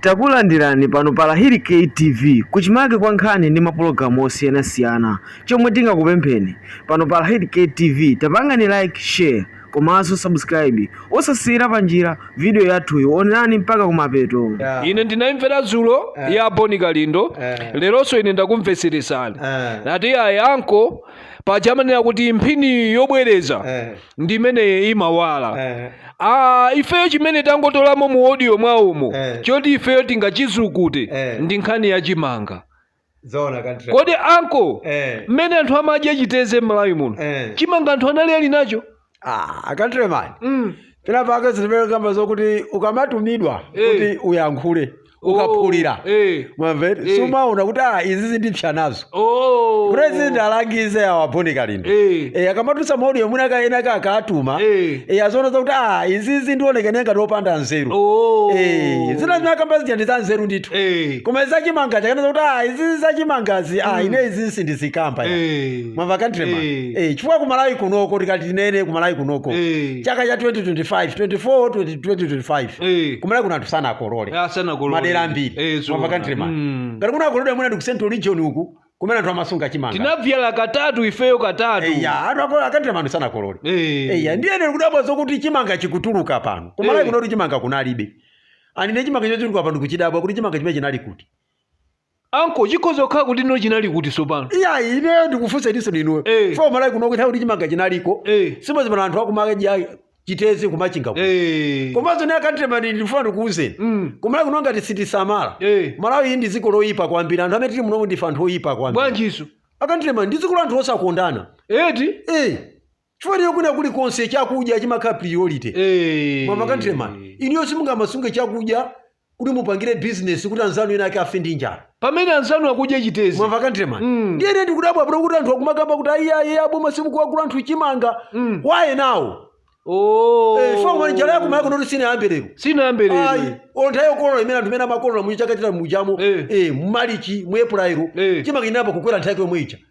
Takulandirani pano pa Lahiri K TV kuchimake kwa nkhani ndi mapologalamu osiyanasiyana. Chomwe tingakupempheni pano pa Lahiri K TV tapangani like, share komanso subscribe. Osasiyira panjira video yathuyi, onerani mpaka kumapeto. Yeah. ine ndinaimvera dzulo Eh. ya boni kalindo Eh. leronso ine ndakumvetseretsani Eh. nati ayi anko paja amanena kuti mphini yobwereza Eh. ndi imene imawala Eh. Ah, ifeyo chimene tangotolamo mu audio mwawomu Eh. choti ifeyo tingachizukute Eh. ndi nkhani ya chimanga Zoona countryman. kodi anko Eh. mmene anthu amadya chiteze m'malawi muno Eh. chimanga anthu anali ali nacho Ah, countryman. mm. Pena pake zimene akamba zokuti ukamatumidwa Eh. kuti uyankhule. ukaphulira Oh, eh. mwamva Eh. sumaona kuti ah izi zindipsa nazo Oh. president alangize awa boni kalindo Eh. Eh, akamatulutsa maudio mwina akaona akatuma Eh. Eh, aziona kuti ah izi ndioneka ngati opanda nzeru Oh. Eh, zina zimene akamba zija ndi za nzeru ndithu Eh. koma zachimanga akanakana kuti ah izizi zachimangazi ah ine izi sindizikamba ya. Eh. mwamva countryman Eh. eh chifukwa kumalawi kunoko tikati tinene kumalawi kunoko Eh. chaka cha 2025 24 20 2025 Eh. kumalawi kuno anthu sanakolole Eh, sanakolole. madera ambiri Eh, zoona. mwamva countryman Mm. ngati kunakolole mwina ndi ku central region uku kumene anthu amasunga chimanga tinadzala katatu ifeyo katatu eya anthu a countryman sanakolole Eh. eya ndiye ine kudabwa zokuti chimanga chikutuluka pano kumalawi Eh. kuno kuti chimanga kunalibe anine chimanga chotuluka pano kuchidabwa kuti chimanga chimenechi chinali kuti anko chikhoza kukhala kuti ino chinali kuti tsopano iyayi ineyo ndikufunsa ininso inuyo Eh. kumalawi kuno kutanthauza kuti chimanga chinaliko Eh. si mwezi pano anthu akumadya chiteze kumachinga kuno. Eh. komanso ine a countryman ndifuna ndikuwuzeni Mm. kumalawi kuno ngati sitisamala Eh. malawi iyi ndi dziko loyipa kwambiri anthu amene tili munomu ndife anthu oyipa kwambiri bwanjinso a countryman ndi dziko la anthu osakondana eti Eh. chifukwa lero kwina kulikonse chakudya chimakhala priority Eh. mwamva countryman inuyo simungamasunge chakudya kuti mupangire business kuti anzanu ena ake afe ndi njala pamene anzanu akudya chiteze mwamva countryman Mm. ndiye ine ndikudabwa pano kuti anthu akumakamba kuti ayi aboma simukuwagula anthu chimanga Mm. waye nawo Oh. Eh, chifukwa njala ya kumalawi kunotu sinayambe lero sinayambe ayi lero nthawi yokolola imene anthu imene amakolola muchaka chita mujamo Eh. eh, mumalichi mu April Eh. chimanga chinayamba kukwera nthawi yomwe ija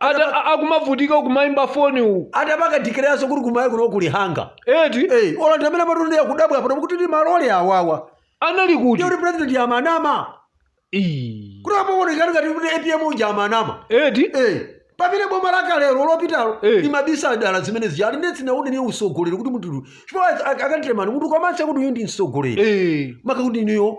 Anthu a- akumavutika kumayimba foni uku atabakadikiranso kuti kumalawi kuno kulibe chimanga eti Eh, ola ndi mmene anthu akudabwa pano kuti ndi malole awawa anali kuti ndiye kuti president amanama Ii. kuti apa aoneka ngati kuti apm uja amanama eti Eh, pamene boma lakale lopitalo Eh. limabisa dala zimenezija ndiye sindinaone ine utsogoleri kuti munthu chifukwa a countryman munthu ukamanena kuti uyu ndi mtsogoleri Eh. maka kuti niyo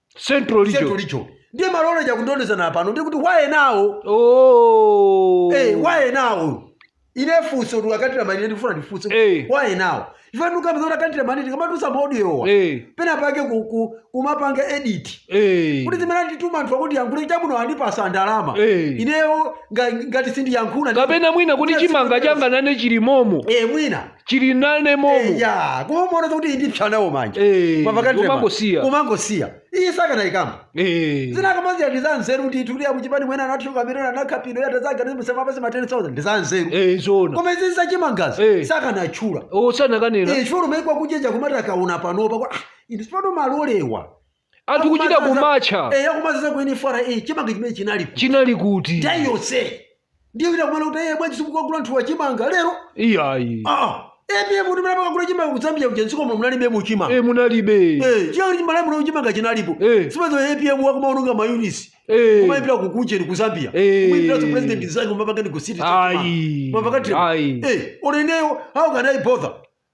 central region central region ndiye malole chakundondezana pano ndikuti wayenawo oh hey, eh, wayenawo ine funso tu a countryman ine ndifuna ndifunse hey. Eh. wayenawo ifanuka mzora countryman tikamatulutsa maudiowa hey. Eh. pena pake kumapanga ku, edit hey. kuti zimene andituma anthu kuti ndiyankhule chabwino andipasa ndalama hey. ineyo ngati sindiyankhula kapena mwina kuti chimanga changa nane chilimomo eh mwina chili nane momo eya koma umaona kuti ndipsa nawo manje Eh, Mwamva kale ndema? umangosiya. umangosiya iyi sakanayikamba Eh. zina akamba zija ndi zanzeru kuti tukuliya kuchipani mwene anathuka mireno anakhapino yatazaganiza musema pasi ma 10000 ndi zanzeru Eh, zona koma izi zachimangazi Eh. sakanatchula sakananena Eh, chifukwa umaikwa kuchenjera kumati akaona panopa kuti, "Ah, inu sipano mumalolera anthu kuchita kumatcha eya kumazaza ku nfra chimanga chimene chinali kuti chinali kuti nthawi yonse ndiye wina kumana kuti eye bwanji simukagula anthu wa chimanga lero iyayi a apm kuti mmene amakagula chimanga ku zambia kuja mdziko muno munalibe chimanga e munalibe Eh, chiyani malawi muno chimanga chinalipo Eh. simazo apm wakumaononga mayunitsi Eh. kumayimbira ku kujeni ku zambia Eh. kumayimbiranso president mnzake kumapanga negotiate Ayi. kumapanga Ayi. eh olo ineyo how can i bother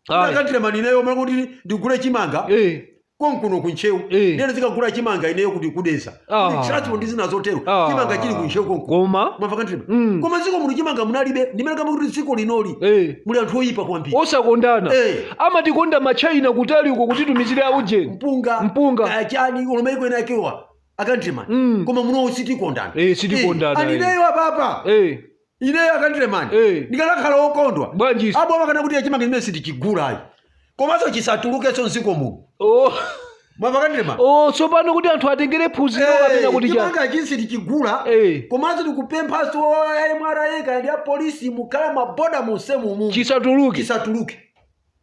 Ayi. a countryman ineyo mmalo kuti ndigule chimanga Eh. konkuno ku ntcheu Eh. ndiye ndizikagula chimanga ineyo kuti ku dedza Ah. Ndi transport ndi zina zotero Ah. chimanga chili ku ntcheu konko Koma mwamva a countryman Mm. koma dziko muno chimanga munalibe ndimene kamba kuti dziko linoli eh muli anthu oyipa kwambiri osakondana Eh. amatikonda ma china kutali uko kutitumizire aujeni mpunga Mpunga. kaya chani olo maiko ena akewa a countryman Mm. koma munowo sitikondana Eh, sitikondana, Eh, eh. anineyo apapa eh ineyo a countryman Eh. ndikanakhala wokondwa Bwanjisi? aboma akananena kuti chimanga chimenechi sitichigulayi komanso chisatulukenso mdziko muno oh. mwamva a countryman oh, tsopano kuti anthu atengere phunziro kapena kuti chani chimanga ichi sitichigula Eh. komanso tikupemphanso mra kaya ndi apolisi mukhale m'maboda monsemu mumu chisatuluke chisatuluke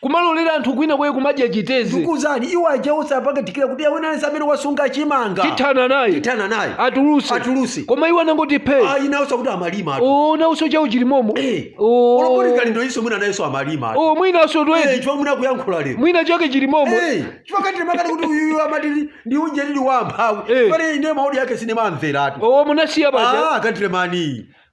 kumalolera anthu kwinakwake kumadya chiteze ndikuzani iwo aja onse apakatikira kuti awina aliyense amene wasunga chimanga tithana naye tithana naye atuluse Atuluse. koma iwo anangoti phe ayi nawonso kuti amalima atu. o nawonso chawo chilimomo Eh, Oh. olo bon kalindo iso mwina nayenso amalima atu. o mwinaso Eh, twezi chifukwa mwina kuyankhula lero mwina chake chilimomo Eh, chifukwa a countryman akati kuti uyuyu amati ndi- ndi unje lili wa amphawi Eh. pale ine ma audio ake sindimamveratu o munasiya paja ah a countryman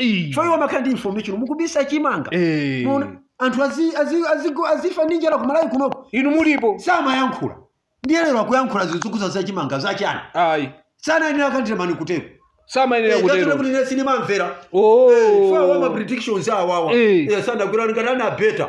Ii. chifukwa iwo amakhala ndi information mukubisa chimanga Eh. Muona, anthu azi- azi- azigo- azifa ndi njala kumalawi kunoko inu mulipo samayankhula ndiye lero akuyankhula zokhudza za chimanga zachani ayi samayenera a countryman kutero samayenera Eh, kutero kuti ine sindimamvera Oh. Eh, chifukwa wa ma predictions awawa Eh. Eh, sanagwirani ngati anabeta